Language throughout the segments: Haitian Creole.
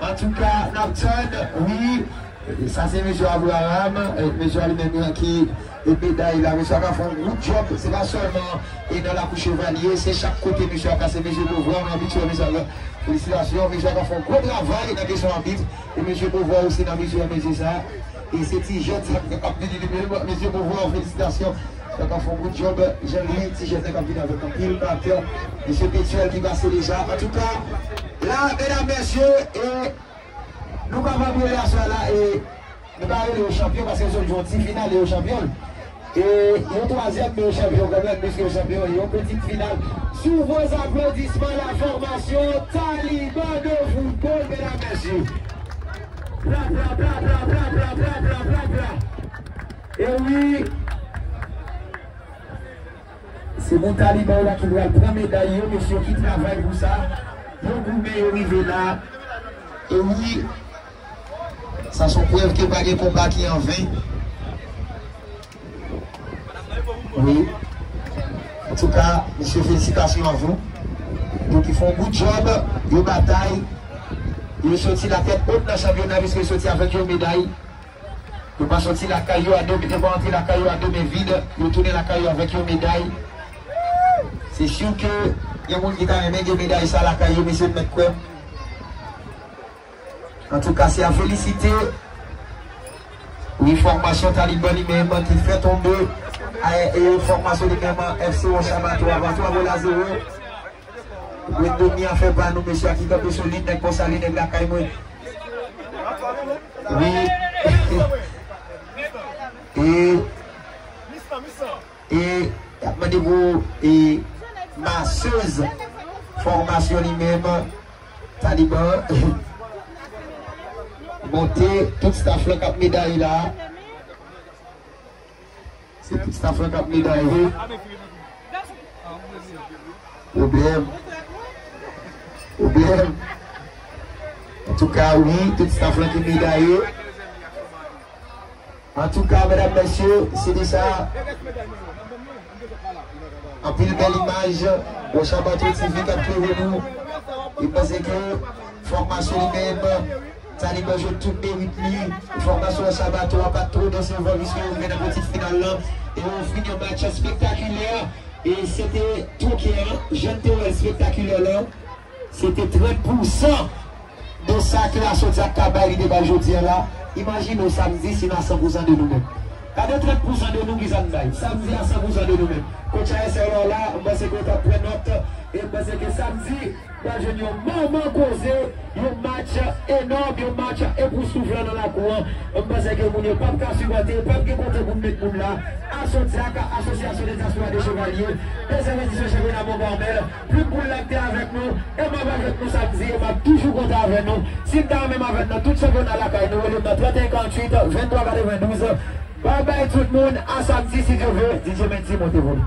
Antouka nap tann wi. Sa se mesye Abraham, mesye a li menm li anki meday la. Mesye a ka fè yon gwo djòb, se pa sèlman e nan lakou chevalye, se chak kote mesye a pase. Mesye Beauvoir mwen abitye wè mesye avè felisitasyon. Mesye a ka fè yon gwo travay nan kesyon abit e mesye Beauvoir osi n abitye wè mesye sa. E se ti jèn sa ki ap vini li menm mesye Beauvoir felisitasyon wap ap fè yon gwo djòb jan li ti jèn sa kap vini avèk anpil batè mesye Petuel ki pase deja antouka la medam mesye e nou pa vòt rele aswè a la e nou pa rele yo chanpyon paske yo sot jwe yon ti final e yo chanpyon l. E yon twazyèm nou chanpyon kanmenm pwiske yo chanpyon yon pitit final sou gwo zaplodisman la fòmasyon Taliban de foutbòl medam mesye plaplapla e wi se moun Taliban yo la ki pral pran meday yo mesye ki travay pou sa yo goumen yo rive la e wi. Sa son prèv ke pa gen konba ki an ven. Wi. Antouka, mesye felisitasyon a vou. Yo ki fon good job, yo batay, yo soti la tèt haut nan chanpyona piske yo soti avèk yon meday. Yo pa soti lakay yo a 2 men, yo pa antre lakay yo a 2 men vid, yo tounen lakay yo avèk yon meday. Se sur ke gen moun ki ta renmen gen meday sa lakay yo mesye, nou mèt kwè m. Antouka se a felisite wi fòmasyon taliban li menm an ki fè tonbe AEE fòmasyon li menm an FC Roche a ba twa ba 3 gòl a zewo Wayne Domni a fè pa nou mesye a ki kanpe solid nèg Pò Sali nèg lakay mwen wi e e yap mande pou e Masseuse fòmasyon li menm an. Taliban monte tout staff lan kap medaye la se tout staff lan kap medaye problem problem antouka wi tout staff lan ki medaye Antouka medam mesye se de sa anpil bel imaj bon chabato TV kap klere nou e panse ke fòmasyon li menm taliban jwenn tout merit li fòmasyon chabato a pat two desevan pwiske yo rive nan peti final lan e yo ofri yon match spektakilè e se te tokè jan nou te wèl spektakilè lan. Se te 30 pou san de sa ke Asodia ka bay li te bay jodi an la. Imajine w sa m di si n a san pou san de nou menm. Gade 30 pou san de nou ki sa n bay. Sa m di a san pou san de nou menm. Coach ASR la w la, m panse ke w t ap pran nòt. E m panse ke samdi, n pral jwenn yon manman koze, yon match enòm, yon match epoustouflan nan lakou an. M panse ke moun yo p ap ka sipòte, p ap gen kote pou n met moun la. Asodia ka, Asosyasyon de Dyaspora de Chevalye, 2 zan edisyon chanpyona Mont Carmel. Tout moun la te avèk nou, e map avèk nou samdi e map toujou kontan avè nou. Si n ta menm avè n nan tout sa jòna lakay nou rele m nan 31 48 23 92. Bye bye tout moun a samdi si Dye vle DJ Mendy monte volum.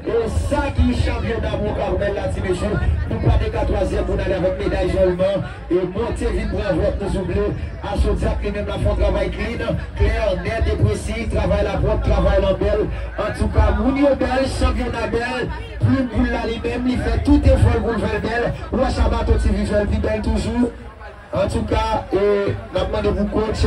Bon sa ki chanpyon damou Carmel la ti mesye nou pa te ka twazyèm pou n ale avèk meday jòl nan e monte vin pran vlòt nou souple Asodiak li menm la fon travay klin, klè, nèt e presi travay la pwòp travay lan bèl antouka moun yo bèl chanpyona bèl plim poul la li menm li fè tout efò l pou l fè l bèl wè Chabato TV fè l pi bèl toujou antouka e n ap mande pou coach.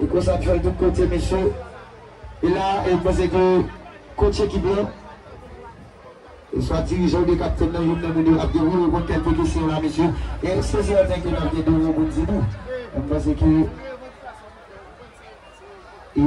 E konsa ap fèl tout kote mesye. E la e panse ke coach ekip lan e swa dirijan oubyen kaptenn nan youn nan moun yo ap gen wi reponn kèlke kesyon la mesye. E se sèten ke nap gen 2 mo poun di tou. M panse ke e.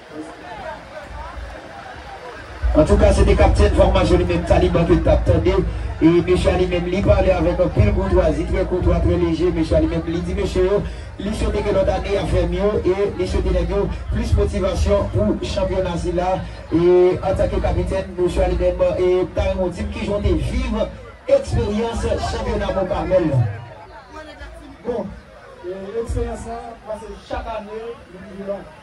Antouka se te kaptenn fòmasyon li menm Taliban ke n t ap tande e mesye a li menm li pale avèk anpil koutwazi, trè koutwa, trè leje, mesye a li menm li di mesye yo li swete ke lòt ane y ap fè mye e li swete nèg yo plis motivasyon pou chanpyona sila e antanke kapitèn mesye a li menm e m ta renmen w di m kijan w te viv eksperyans chanpyona Mont Carmel lan. Bon, eksperyans lan pase chak ane li pi long.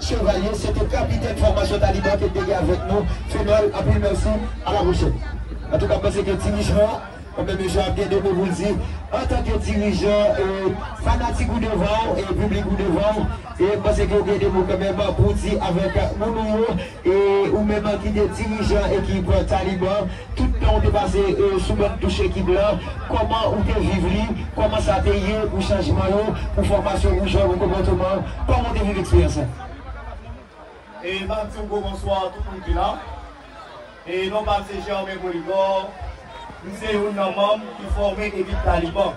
Chevalier se te kapitèn fòmasyon taliban ke te gen avèk nou Fenol anpil mèsi a la pwochèn antouka m panse ke ti Richemond an bon men misye ap gen 2 mo pou l di antanke dirijan fanatik ou devan w e piblik ou devan w e m panse ke ou gen 2 mo kan menm pou w di avèk moun ou yo e ou menm ki te dirijan ekip taliban. Tout tan ou te pase sou bann touch ekip lan, kòman ou te viv li, kòman sa te ye pou chanjman yo, pou fòmasyon, pou jwè, pou konpòteman, kòman ou te viv eksperyans sa? E map di yon gwo bonswa a tout moun ki la. E non pam se Germain Polydor, m se youn nan manm ki fòme ekip Taliban.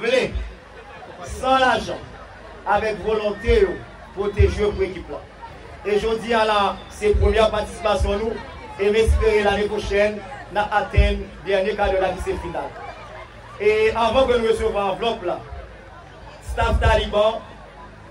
vle, san lajan, avèk volonte yo pote jwe pou ekip la. E jodi a la se premyè patisipasyon nou e m espere lane pwochèn n a atenn dènye kadè la ki se final. E anvan ke nou resevwa anvlòp la, staff Taliban,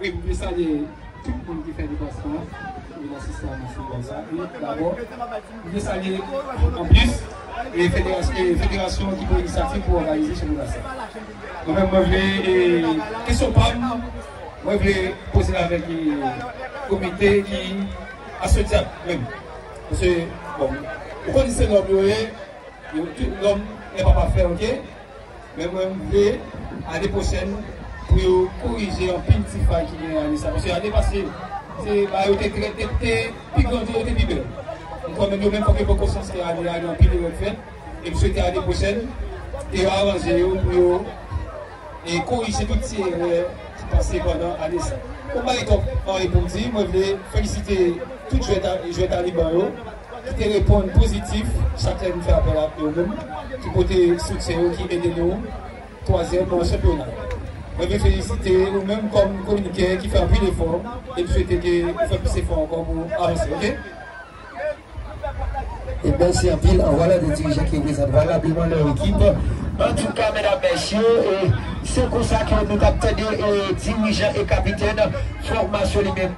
Wi mwen salye tout moun ki fè deplasman an pou vin asiste a match foutbòl sa e dabò mwen salye anplis federasyon federasyon ki pran inisyativ pou òganize chanpyona sa. Mwen menm mwen vle kesyon pa m mwen vle poze l avèk komite ki asosyab menm paske bon ou konnen se nòm yo ye tout nòm gen pa pafè ok. Men mwen m vle ane pwochèn pou yo korije anpil ti fay ki genyen ane sa paske ane pase se ba yo te trèt te te pi grandi yo te pi bèl m kwè menm yo menm fòk yo pran konsyans ke ane a gen anpil erè k fèt e m swete ane pwochèn ke yo aranje yo pou yo e korije tout ti erè ki pase pandan ane sa m pa gen twòp anyen pou m di mwen vle felisite tout jwè jwè taliban yo. Yo te reponn pozitif, sa k fè m fè apèl ak yo menm ki pote soutyen yo ki ede nou twazyèm chanpyona a. Mwen vle felisite ou menm kòm kwonikè ki fè anpil efò e m swete ke ou fè plis efò ankò pou avanse ok. E mèsi anpil anvwala 2 dirijan ki reprezante valableman lè ekip. Antouka medam mesye se konsa ke nou tap tande dirijan e kapitèn fòmasyon li menm.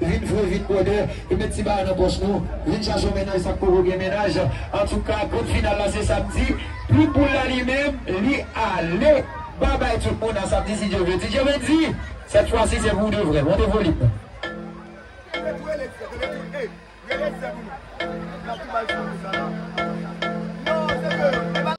Vin vre vin bwòdè e met ti bagay nan pòch nou Vin chache yon mennaj sak poko gen mennaj Antouka grand final la se samdi Plim poul la li menm li ale Bye bye tout moun a samdi si Dye vle DJ Mendy Sèt fwa si se pou de vrè Monte volim nan. Rele tou rele frè tande tou ey rele frè pou nou nap tou bal flanbe sa la non se ke.